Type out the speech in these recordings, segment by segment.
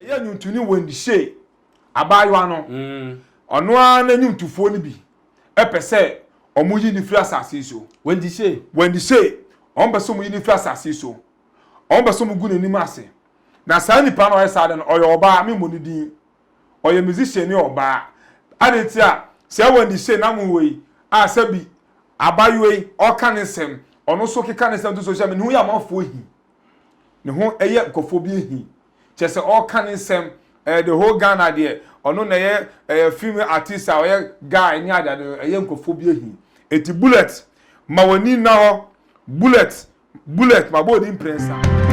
Ɛyɛ nnwontoni Wendy Shay, abaayewa no, ɔno ara ne nnwontofoɔ no bi, pɛ sɛ wɔyi no firi asase yi so. Wendy Shay. Wendy Shay, wɔpɛ sɛ wɔyi no firi asase yi so. Wɔpɛ sɛ wɔgu n'anim ase. Na saa nipa no a ɔyɛ saa ade no, ɔyɛ ɔbaa, memmɔ ne din. Ɔyɛ musicianni ɔbaa. Adɛn nti a saa Wendy Shay nam hɔ yi a sɛbi abaayewa yi ɔreka ne nsɛm, ɔno nso keka ne nsɛm to social media, ne ho yɛ amanfoɔ ahi. Ne ho yɛ nkurɔfoɔ bi ahi. kyerɛ sɛ ɔreka ne nsɛm ɛɛ the whole Ghana deɛ ɔno na ɛyɛ ɛɛ film artist a ɔyɛ guy ne adeade no ɛyɛ nkurɔfoɔ bi ahi eti bullet ma w'ani nna hɔ bullet bullet ma bɔ odi mprɛnsa.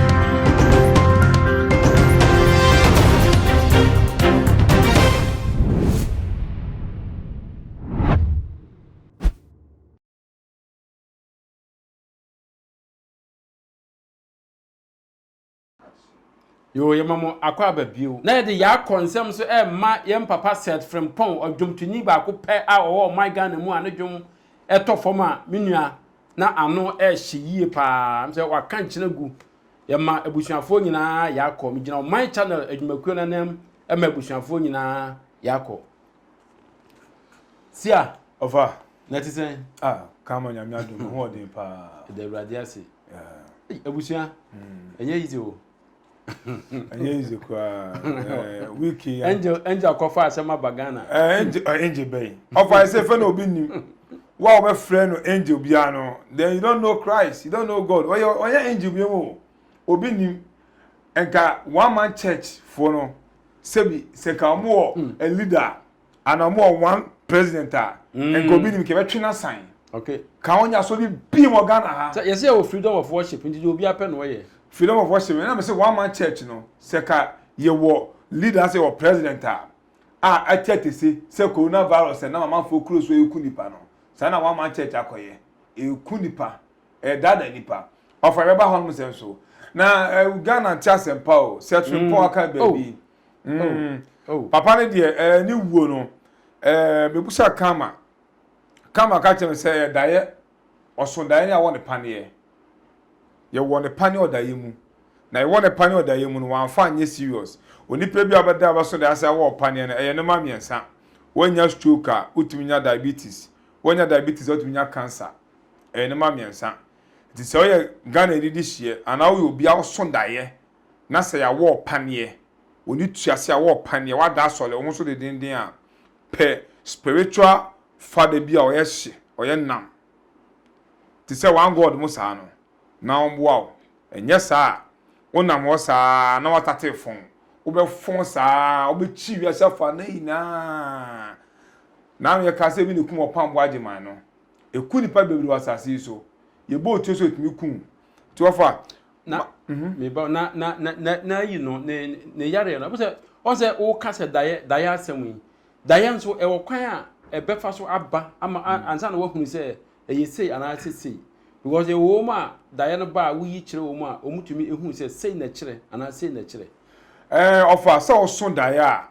Yoo, yɛma mo akɔ aba bio. Na yɛde Yaa Kɔ nsɛm nso rema yɛn papa Seth Frimpong, ɔdwomtoni baako pɛ a ɔwɔ ɔman Ghana mu a ne dwom tɔ fam a me nua na ano rehye yie paa. Ɛm sɛ waka nkyene gu. Yɛma abusuafoɔ nyinaa Yaa Kɔ. Megyina ɔman channel adwumakuo no anam ma abusuafoɔ nyinaa Yaa Kɔ. Sia. Ɔfa, na ɛte sɛn? Ah, ka ma Nyame adom, me ho ɔden paa. Ɛda Awurade ase. Yeah. Abusua, hmm. ɛnyɛ easy o. ɛnyɛ easy koraa. Eh, Wiki. Angel, Angel kɔfa asɛm aba Ghana. Eh, Angel, eh, Angel bɛyi. Ɔfa, ɛsɛ fɛ na obi nim. Wa a wɔbɛfrɛ no Angel biara no, then you don't know Christ, you don't know God. Ɔyɛ, ɔyɛ Angel bi mu o. Obi nim. Nka one man church foɔ no. Sebi sɛ ka ɔmo wɔ mm. a leader a ana ɔmo wɔ one president a mm. nka obi nim kɛbɛ twe n'asan okay ka wɔn nya so bi bii wɔ ghana ha. sɛ yɛsɛ yɛ wɔ freedom of worship nti deɛ obi apɛ na ɔyɛ. freedom of worship ɛna mi sɛ one man church no sɛ ka yɛ wɔ leader sɛ wɔ president a a ɛte ɛtese sɛ corona virus ɛnam amanfoɔ kuro so eku nipa no saa na one man church akɔyɛ eku nipa. ɛdaadaa nipa ɔfa bɛba hɔ nom sɛ nso na ghana nte asɛmpa o sɛ twempɔ mm. aka baabi oh. mm. oh. oh. papa no deɛ ne wuo no mebusa kama kama ka kyerɛ me sɛ ɛdaeɛ ɔso daeɛ ne awɔ ne paneɛ yɛwɔ ne paneɛ ɔdaeɛ mu na yɛwɔ ne paneɛ ɔdaeɛ mu no wɔamfa anyɛ serious onipa bi a ɔbɛda a bɛso daeɛ asɛ awɔ ɔpaneɛ no ɛyɛ ne ma mmiɛnsa wɔanya stroke a wotumi nya diabetes wɔanya diabetes a wotumi nya cancer ɛyɛ nneɛma mmiɛnsa. Nti sɛ woyɛ Ghanani de hyeɛ anaa woyɛ obi a woso daeɛ na sɛ yɛawɔ wo paneɛ, w'ani tua ase a wɔwɔ paneɛ, woada asɔre, wo ho so dendeenden a, pɛ spiritual father bi a ɔyɛ hye, ɔyɛ nam te sɛ One God mu saa no na ɔmmoa wo. Ɛnyɛ saa a, wonam hɔ saa na woatate fon, wobɛfon saa, wobɛkyi wiase afanan nyinaa. Nano yɛkaa sɛ ebi na ɛkum Ɔpɔn Aboagye man no. Eku nnipa bebree wɔ asase yi so. Yɛbɔ otuo sɛ otumi ku wo. Nti wɔfa a. Na me ba na na na na yi no ne ne yareɛ no. Ɛbɛ sɛ wɔn sɛ woka sɛ daeɛ daeɛ asɛm yi. Daeɛ nso ɛwɔ kwan a ɛbɛfa so aba ama ansa na wɔahunu sɛ ɛyɛ sei anaa sɛ sei. Because ɛwɔ wɔn a daeɛ no ba a woyi kyerɛ wɔn a wɔtumi ehunu sɛ sei na ɛkyerɛ anaa sei na ɛkyerɛ. Ɛɛ ɔfa sɛ ɔso daeɛ a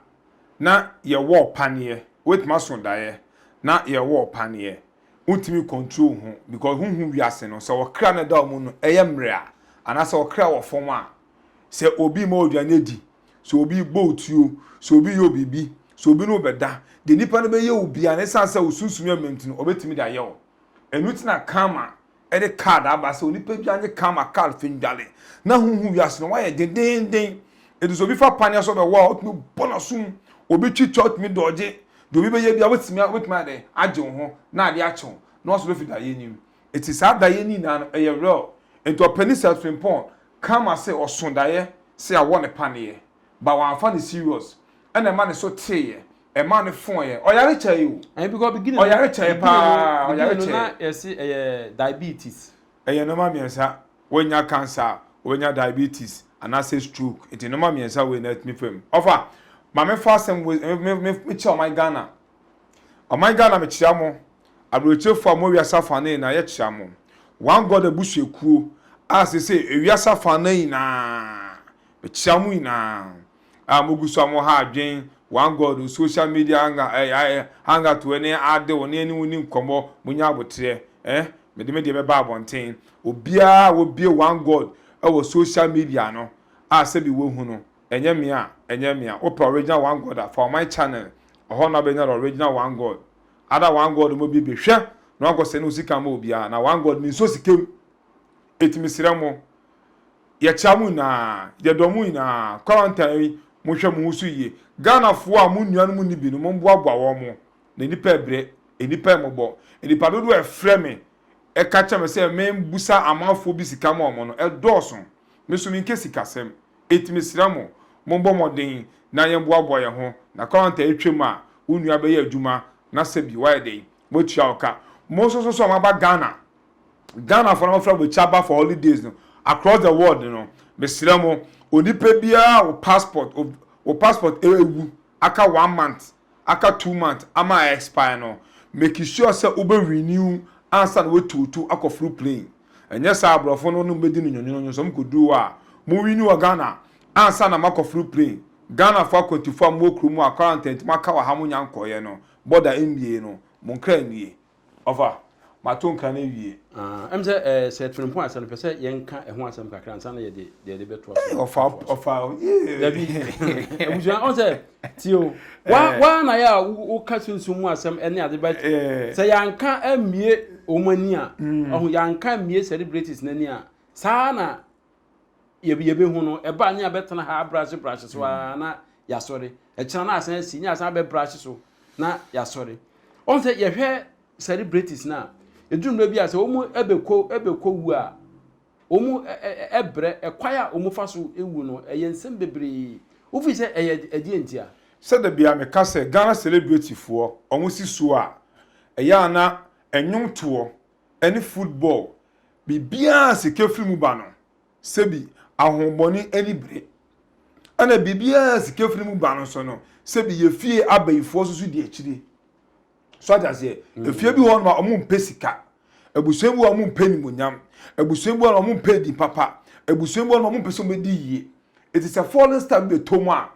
na yɛwɔ paneɛ wobɛtumi aso daeɛ na yɛwɔ paneɛ wontumi control wo ho because honhu wiase no sɛ ɔkra na ɛda wo mu no ɛyɛ mmerɛ a anaasɛ ɔkra wɔ fam a sɛ obi ma aduane adi sɛ obi bɔ wo tuo sɛ obi yɛ biribi sɛ obi no bɛda deɛ nipa no bɛyɛ wo bia na ɛsiane sɛ wo sunsum yɛ mmerɛ nti no ɔbɛtumi de ayɛ wo ɛno ti na karma de card aba sɛ onipa dwa nye karma card fi ndwale na huhu wiase no wayɛ dendeenden eti sɛ obi fa paneɛ so bɛwɔ a otumi bɔ n'aso mu obi twi twa otumi dɔɔgye deɛ obi bɛyɛ bia wobɛtumi a wobɛtumi ayɛ dɛn agye wo ho na adeɛ akye wo na waso bɛfi daeɛ nim eti saa daeɛ ni nyinaa no ɛyɛ real enti ɔpɛni sɛ frimpong karma se ɔso daeɛ se awɔ ne paneɛ ba wamfa no serious ɛna ɛma ne so teeɛ ɛma no foeɛ ɔyare kyɛe o ɛyɛ because beginning no ɔyare kyɛe beginning no paa ɔyare beginning no na kyɛe yɛse ɛyɛ diabetes ɛyɛ nnoɔma mmiɛnsa woanya cancer a wobɛnya diabetes anaasɛ stroke nti nnoɔma mmiɛnsa wei na atumi fam ɔfa ma mefa asɛm wei me- me- me- mekyerɛ ɔman Ghana ɔman Ghana mekyerɛ mo aberɛkyerɛfoɔ a mo wiase afa no nyinaa yɛkyerɛ mo one God abusuakuo a sese ewiase afa no nyinaa mekyerɛ mo nyinaa a mogu so a mo ha adwen one God o social media hanga eh ah eh hanga to eh ne ade o ne ɛne wo ni nkɔmɔ mo nya abotrɛ eh me de me deɛ bɛba abɔnten obiara a wobie one God ɛwɔ social media no a sɛbi wahu no ɛnyɛ mea ɛnyɛ mea wopɛ original one God a fa wɔ my channel ɔhɔ na wobɛnya the original one God ada one God mo bibie hwɛ na wankɔ sɛ ne wo sika ma obiara na one God me nsuo sika mu ɛti me serɛ mo Yɛkyea mo nyinaa, yɛdɔ mo nyinaa. Quarantine yi, monhwɛ mo ho so yie. Ghanafoɔ a mo nuanom nni bi no, momboaboa wɔn. Na nnipa rebrɛ, nnipa mmɔbɔ. Nnipa dodoɔ a ɛfrɛ me ka kyerɛ me sɛ membusa amanfoɔ bi sika ma wɔn no, ɛdɔɔso. Me nso menka sikasɛm. Enti mesrɛ mo, mommɔ mmɔden na yɛmboaboa yɛn ho. Na quarantine yi twam a, wo nua bɛyɛ adwuma na sɛbi woayɛ dɛn? Woatua wo ka. Mo nso so a moaba Ghana Ghanafoɔ no wɔfrɛ mo kyi aba for holidays no across the world no mesrɛ mo onipa biara wo passport wo passport ɛwu aka one month aka two month ama a expire no make sure sɛ wobɛ renew ansa na watuotu akɔ foro plane ɛnyɛ saa aborɔfo no no bɛdi no nyonyonyo sɛ mokɔduru hɔ a mo renew wɔ Ghana ansa na makɔ foro plane Ghanafoɔ akwantufoɔ a mowɔ kuro mu a quarantine nti mo aka wɔ ha mo nya nkɔeɛ no border mmie no mo nkra nnie Ɔfa, mato nka no awie. Ah, ɛm sɛ eh, sɛ atirimpɔn asɛm no, pɛ sɛ yɛnka ɛho asɛm kakra ansa na yɛde deɛ yɛde bɛtoa so. Ei, ɔfa, ɔfa, yee. Dabi, abusua, ɔn sɛ, tie o, wa, Eh. wa na yɛ a wo, woka sunsum mu asɛm ɛne ade but Eh. sɛ yɛanka ammue wɔn ani a, ɔho, yɛanka ammue celebrities no ani a, saa ara na yɛbɛhu no ɛba ne abɛtena ha abrahye brahye so a na yɛasɔre ɛkyena no asan asi ne asan abɛbrahye so na yɛasɔre ɔn sɛ yɛhwɛ celebrities no a ɛduru mmerɛ bi a sɛ wɔn ɛbɛkɔ ɛbɛkɔ wu a wɔn ɛbrɛ ɛkwan a wɔn fa so ɛwu no ɛyɛ nsɛm bebree wofi sɛ ɛyɛ ɛdeɛ nti a sɛ da bia meka sɛ Ghana celebrity foɔ wɔn si so a ɛyɛ a na ɛnwom toɔ ne football, biribiara a sika firi mu ba no, sɛbi ahonhommɔne ani bere. Ɛna biribiara a sika firi mu ba no nso no, sɛbi yɛ fie abayifoɔ nso so di akyire. So ate aseɛ? Efie bi hɔ nom a wɔmpɛ sika. Abusua bi hɔ a wɔmpɛ animuonyam. Abusua bi hɔ nom a wɔmpɛ edin papa. Abusua bi hɔ nom a wɔmpɛ sɛ wɔbɛdi yie. Enti sɛ falling star bi bɛtɔ mu a,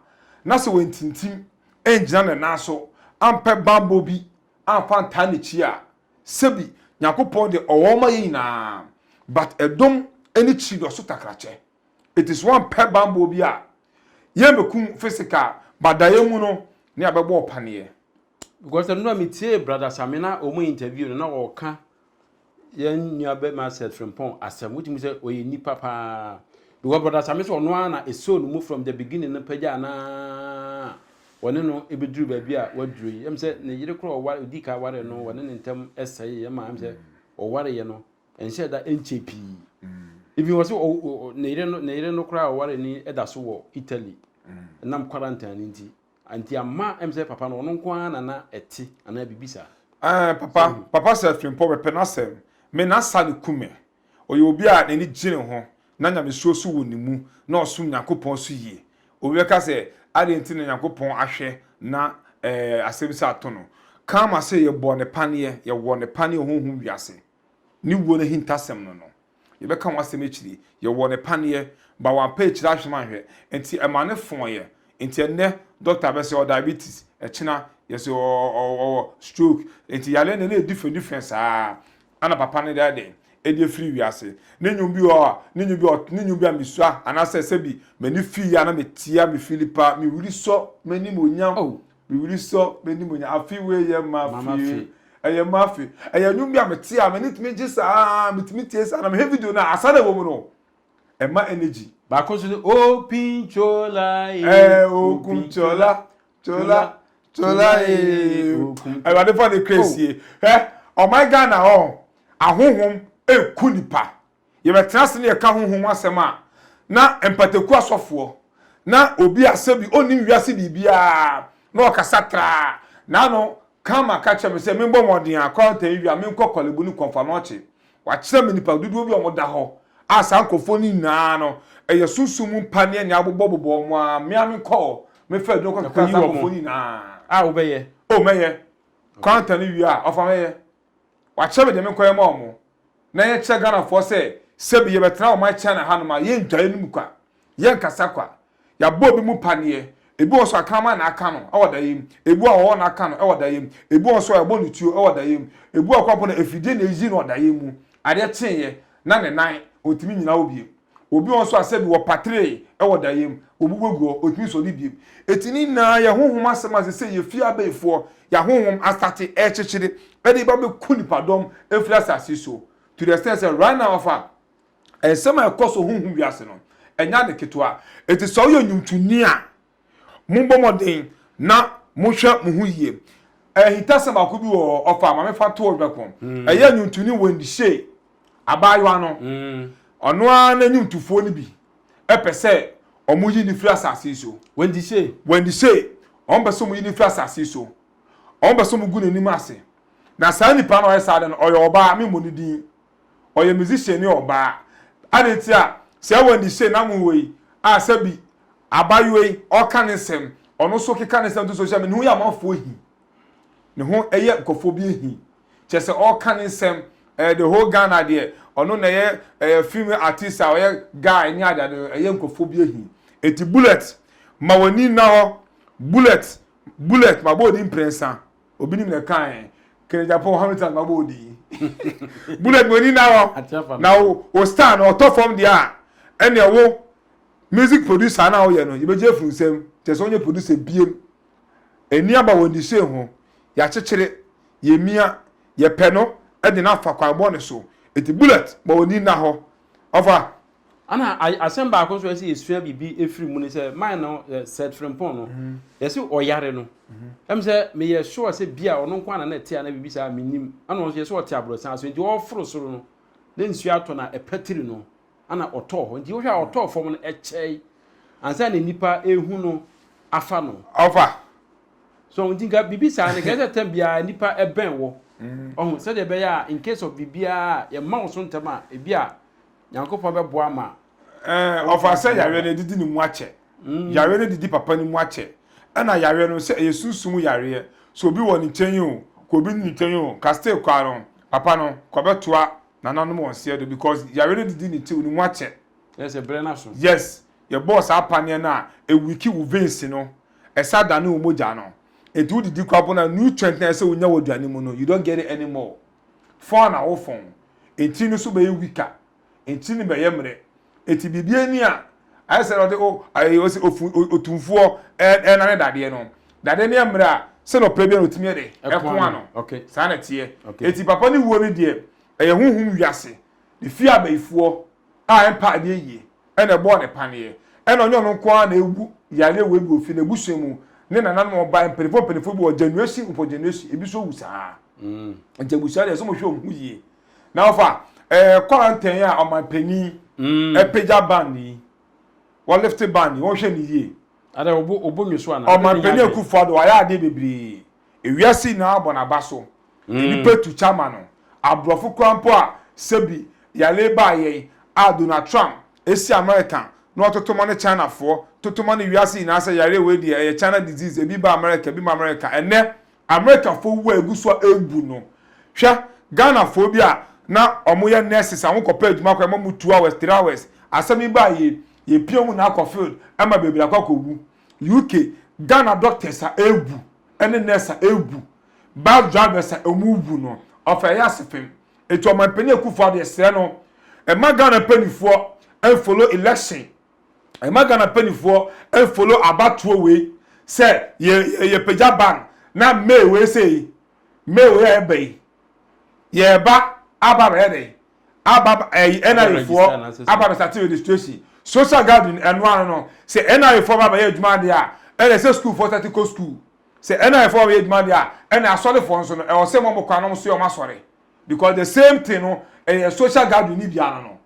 na sɛ wantintim angyina ne nan so ampɛ bammɔ bi amfa antaa n'akyi a, Sebi Nyankopɔn de ɔwɔ ma yɛn nyinaa but ɛdom ɛne kyi dɔ so takrakyɛ it is one pɛ banbɔ bi a yɛn bɛ kum physical but da yɛn mu no ne a bɛ bɔ ɔpaneɛ. Because ɛno na me tie brother Same na ɔmo interview no na ɔka yɛn nua bɛ ma Sir Frimpong asɛm wotumi sɛ ɔyɛ nipa paa because brother Same sɛ ɔno ara na ɛsoo no mu from the beginning no pɛgyaa no aa wɔne no bɛduru baabi a waduru yi, ɛm sɛ ne yere korɔ ɔware, ɔdii ka ware no, wɔne ne ntam sɛeɛ ɛma ɛm sɛ ɔwareɛ no, ɛnhyɛ da ɛnkyɛ pii. Even wɔ sɛ ne yere no, ne yere no koraa ɔware ni ɛda so wɔ Italy, ɛnam quarantine no nti, nti ama ɛm sɛ papa no ɔno nko ara na na ɛte anaa biribi saa. Ɛɛ papa, papa sɛ Frimpong bɛpɛ n'asɛm, me n'asa no ku me. Ɔyɛ obi a n'ani gye ne ho na nyamesuro nso wɔ ne mu na ɔsom Nyankopɔn nso yie. Obi bɛka sɛ, Adɛn nti na Nyankopɔn ahwɛ na asɛm sei ato no? Karma sɛ yɛbɔɔ no paneɛ, yɛwɔ no paneɛ honhom wiase. Ne wuo no ahintasɛm no no, yɛbɛka ho asɛm akyiri. Yɛwɔ no paneɛ, but wampa akyiri ahwɛ no anhwɛ, nti ɛma no fɔeɛ. Nti ɛnnɛ dɔkta bɛse ɔwɔ diabetes, ɛkyena yɛse ɔwɔ stroke. Nti yareɛ no na ɛyɛ different different saa. Ana papa no dɛ dɛn? Edi efiri wiase. Ne nnwom bi wɔ hɔ a, ne nnwom bi wɔ hɔ, ne nnwom bi a misua, anaasɛ sɛbi m'ani fi yɛ a na metia, mifi lipa, me wiri sɔ m'animuonyam, me wiri sɔ m'animuonyam, afe wei yɛ m'afe, ɛyɛ m'afe. Ɛyɛ nnwom bi a mete a m'ani tumi gye saa ara, mitumi tie saa ara, na mehwɛ video no a, asa no a ɛwɔ mu no, ɛma energy. Baako nso ne, Okunchola ee, Okunchola, tola tola ee awurade fa ne kra sie hɛ ɔman ghana hɔ ahohom eku nipa yɛbɛtena ase ne yɛka ahohom asɛm a na mpataku asɔfoɔ na obi asɛ bi ɔnnim wiase biribiara na ɔkasa traa na ano kama ka kyerɛ me sɛ membɔ mmɔden a kɔntɛn wia menkɔ kɔlebu ne kɔmfa na ɔkye Wɔakyerɛ me nnipa dodoɔ bi a wɔda hɔ a saa nkurɔfoɔ no nyinaa no ɛyɛ sunsum mu mpa ne anwea abobɔ bobɔ wɔn a me ara me nkɔ hɔ me fa aduro kɔ keka saa nkurɔfoɔ no nyinaa. A wobɛyɛ. O mɛyɛ. Kwanter no wie a ɔfa mɛyɛ. Wɔakyerɛ me deɛ me nkɔ yɛ ma wɔn na yɛnkyerɛ Ghanafoɔ sɛ sɛbi yɛbɛtena ɔman China hanom a yɛn nnwaeɛ no mu kwa. Yɛnkasa kwa. Yɛabɔ bi mu paneɛ. Ebi wɔ so a kraman na aka no wɔ daeɛ mu. Ebi wɔ hɔ a ɔwɔ na aka no wɔ daeɛ mu. Ebi wɔ so a yɛabɔ no tuo wɔ daeɛ mu. Ebi wɔ kɔ mpo na afidie na ɛyi no wɔ daeɛ mu. Adeɛ kyeeɛ na ne nan ɔntumi nnyina hɔ bio. Obi wɔ hɔ nso a sɛbi wɔpatree wɔ daeɛ mu, wɔbubu agu hɔ, ɔntumi sɔre bio. Enti ne nyinaa yɛ honhom asɛm a seesei yɛfie abayifoɔ, yɛn ahonhom astate rekyekyere de reba abɛku nnipadɔm afiri asase so to the extent sɛ right now afa nsɛm a ɛkɔ so honhom wiase no, ɛnyɛ ade ketewa. Enti sɛ woyɛ nnwomtoni a, mommɔ mmɔden na monhwɛ mo ho yie. Ahintasɛm baako bi wɔ hɔ, ɔfa Maame Fatow Dweko, ɛyɛ nnwomtoni Wendy Shay, abaayewa no. Ɔno ara ne nnwomtofoɔ no bi pɛ sɛ wɔyi no firi asase yi so. Wendy Shay? Wendy Shay. Wɔpɛ sɛ wɔyi no firi asase yi so. Wɔpɛ sɛ wɔgu n'anim ase. Na saa nipa no a ɔyɛ saa ade no, ɔyɛ ɔbaa, memmɔ ne din. ɔyɛ musician ni ɔbaa adɛn nti a sɛ Wendy Shane amu wei a sɛ bi abayewa yi ɔka ne nsɛm ɔno nso keka ne nsɛm to social media ne ho yɛ amanfoɔ hi ne ho ɛyɛ nkɔfoɔ bi hi kyɛ sɛ ɔka ne nsɛm ɛyɛ the whole Ghana deɛ ɔno na ɛyɛ ɛyɛ film artist a ɔyɛ guy ne adeade no ɛyɛ nkɔfoɔ bi hi eti bullet ma w'ani nna hɔ bullet bullet ma bɔ odi mprɛnsa. obi nim na ɛkae kene japan hamilton ma bɔ odi bullet mo ni na hɔ na wo star na ɔtɔ fam deɛ a ɛne wo music producer na woyɛ no yɛbɛgye afiri nsɛm kyɛ sɛ wonyɛ producer biem ɛni aba wɔ ndisee ho yɛakyekyere yɛmia yɛpɛ no de no afa kwan bɔne so ɛti bullet ma wɔ ni na hɔ ɔfa Ana asɛm baako nso a ɛsɛ yɛsua biribi ɛfiri mu ne sɛ man no Sir Frimpong no yɛse ɔyare no ɛm sɛ meyɛ sure sɛ bi a ɔno nko ana na ɛte ana biribi saa mennim ana ɔnso yɛse ɔte abrɔsan so nti ɔforo soro no na nsuo atɔ na ɛpatiri no ana ɔtɔɔ hɔ nti wohwɛ a ɔtɔɔ fam no ɛkyɛe ansa na nipa ɛhu no afa no ɔfa so nti nka biribi saa no kɛsɛ tɛm biara nipa ɛbɛn wɔ ɔho sɛdeɛ ɛbɛyɛ a in case of biribiara yɛmma wo so ntɛm a ebi a Nyankopɔn bɛboa ma. Ɛɛ ɔfa sɛ yareɛ no ɛdidi ne mu akyɛ. Mm. Yareɛ no didi papa ne mu akyɛ. Ɛna yareɛ no sɛ ɛyɛ sunsum yareɛ. So obi wɔ ne nkyɛn yi o, kɔ obi ne nkyɛn yi o, ka still kɔ ano. Papa no, kɔ bɛtoa nananom wɔn seɛ do because yareɛ no didi ne ti ne mu akyɛ. Yes, ɛbrɛ no so. Yes, yɛbɔɔ saa paneɛ no a, ɛwiki wo veins no, ɛsa dane wo mogya no. Ɛti wo didi kɔ abona, nutrient na ɛsɛ wonya wɔ aduane mu no, you don't get it anymore. fɔn na wo fɔn etsi no so bɛyɛ wika etsi no bɛyɛ mrɛ etsi biribiara ni a ayɛ sɛ ɔde o ayɛ ɔsi ofu otumfuɔ ɛna ne dadeɛ no dadeɛ no yɛ mrɛ a sɛ na ɔpɛ bi a na otumi yɛ dɛ ɛko ano saa na ɛteɛ etsi papa ne wuo no deɛ ɛyɛ huhum wiase ne fie abayifuɔ a ɛmpa adeɛ yie na ɛbɔɔ no paneɛ. Ɛna ɔnyɛ ɔno nko ara na awu yareɛ wei bi wɔ fie no, abusua mu ne nananom a wɔbaeɛ, mpanimfoɔ mpanimfoɔ bi wɔ Januasi upon Januasi, ebi nso wu saa ara. Nti abusua deɛ ɛsɛ sɛ wɔhwɛ wɔn ho yie. Na wofa eh, kwarantɛn a ɔmanpanin apagya ban yi, wɔlifte ban yi, wɔnhwɛ no yie. Adɛ, obo, obo nwi so anaa? Ɔmanpanin Akufo-Addo wayɛ adeɛ bebree. Ewiase nyinaa bɔ n'aba so. Nnipa tu kya ma no. Aborɔfo koraa mpo a sɛbi yare baa yɛn a Donald Trump si America na ɔtoto ma ne Chinafoɔ toto ma no wiase nyinaa sɛ yareɛ wei deɛ ɛyɛ China disease, ebi ba America, ebi ma America. Ɛnnɛ Americafoɔ wu a ɛgu so a ɛrebu no, hwɛ Ghanafoɔ bi a na wɔyɛ nurses a wɔkɔpɛ adwuma koraa ɛma wɔn two hours, three hours, asɛm yi baa yei, yɛpia wɔn nyinaa kɔ field ma bebree akɔ akɔwu. UK, Ghana doctors a ewu ne nurse a ewu, bus drivers a wɔwu no, ɔfa ɛyɛ asefem. Enti Ɔmanpanin Akufo-Addo yɛsrɛ no, mma Ghana mpaninfoɔ mfollow election, mma Ghana mpaninfoɔ mfollow abatoɔ wei sɛ yɛ yɛpagya ban na May wei sei, May wei a ɛba yi, yɛreba aba abɛyɛ dɛn? aba ɛyi eh, NRA foɔ aba bɛ sate registration social gathering ɛno ano no sɛ NRA foɔ ba bɛyɛ adwuma adeɛ a ɛna sɛ school foɔ sate kɔ school sɛ NRA foɔ ba bɛyɛ adwuma adeɛ a ɛna asɔre foɔ nso no ɛwɔ sɛ mɔmɔ kwan nom so yɛ ɔmo asɔre because the same thing no ɛyɛ social gathering ni biara no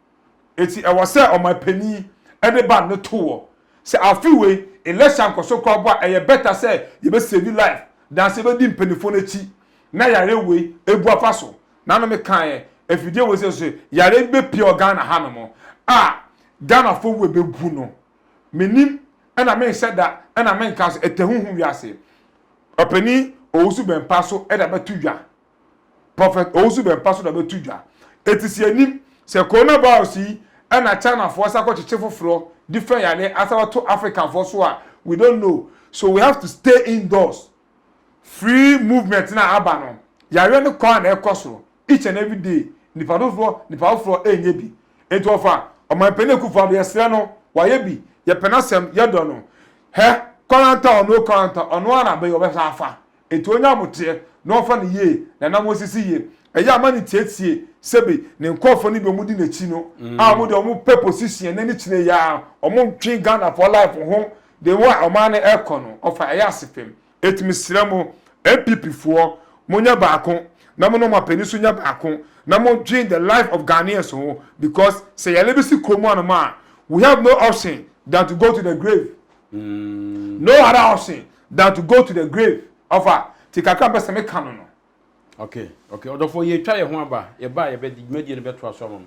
eti ɛwɔ sɛ ɔmo panyin ɛde ba ne to wɔ sɛ afi wei election nkɔso kora bɔ a ɛyɛ better sɛ yɛbɛ save life dan sɛ yɛbɛdi mpanimfoɔ no akyi na yɛayɛ wei ebu afa so na no mekaeɛ afidie wei sɛ so yareɛ bi bɛpie wɔ Ghana ha nom a Ghanafoɔ wura bɛgu no menim ɛna menhyɛ da ɛna menka so ɛtɛ huhu wiase ɔpani Owusu Bɛmpa so ɛda bɛto dwa Prophet Owusu Bɛmpa so da bɛto dwa ɛti sɛ yɛnim sɛ coronavirus yi ɛna Chinafoɔ sa kɔkyekye foforɔ different yareɛ asa bɛto Africanfoɔ so a we don't know so we have to stay indoors Free movement no a aba no, yareɛ no kɔ ara na ɛkɔ soro. Each and every day, nipa dodoɔ, nipa foforɔ ɛnyɛ bi. Nti ɔfa Ɔmanpanin Akufo Addo, yɛsrɛ no, wayɛ bi, yɛpɛ n'asɛm, yɛdɔ no. Hɛ, kɔranta ɔno o kɔranta, ɔno ara na bɛyi a ɔbɛsan afa. Nti ɔnya aboteɛ na ɔmfa no yie, na nam ɔsisi yie. Ɛyɛ a ma no ntietie, sɛbi ne nkorɔfoɔ no bi a wɔn di n'akyi no, a wɔn deɛ wɔn pɛ position na ne kyerɛ yi ara, wɔn ntwe Ghanafoɔ life ho De wo a ɔman no ɛkɔ no ɔfa ɛyɛ asefem eti mesrɛ mo NPP foɔ mo nyɛ baako na mo ne ɔman panin nso nyɛ baako na mo dwen the life of Ghanaians ho because sɛ yare bi si kuro mu anom a we have no option than to go to the grave no other option than to go to the grave ɔfa ti kakra mpɛ sɛ meka no no okay okay ɔdɔfoɔ yɛtwa yɛ ho aba yɛba a yɛbɛdi dwumadie no bɛtoa so ama mo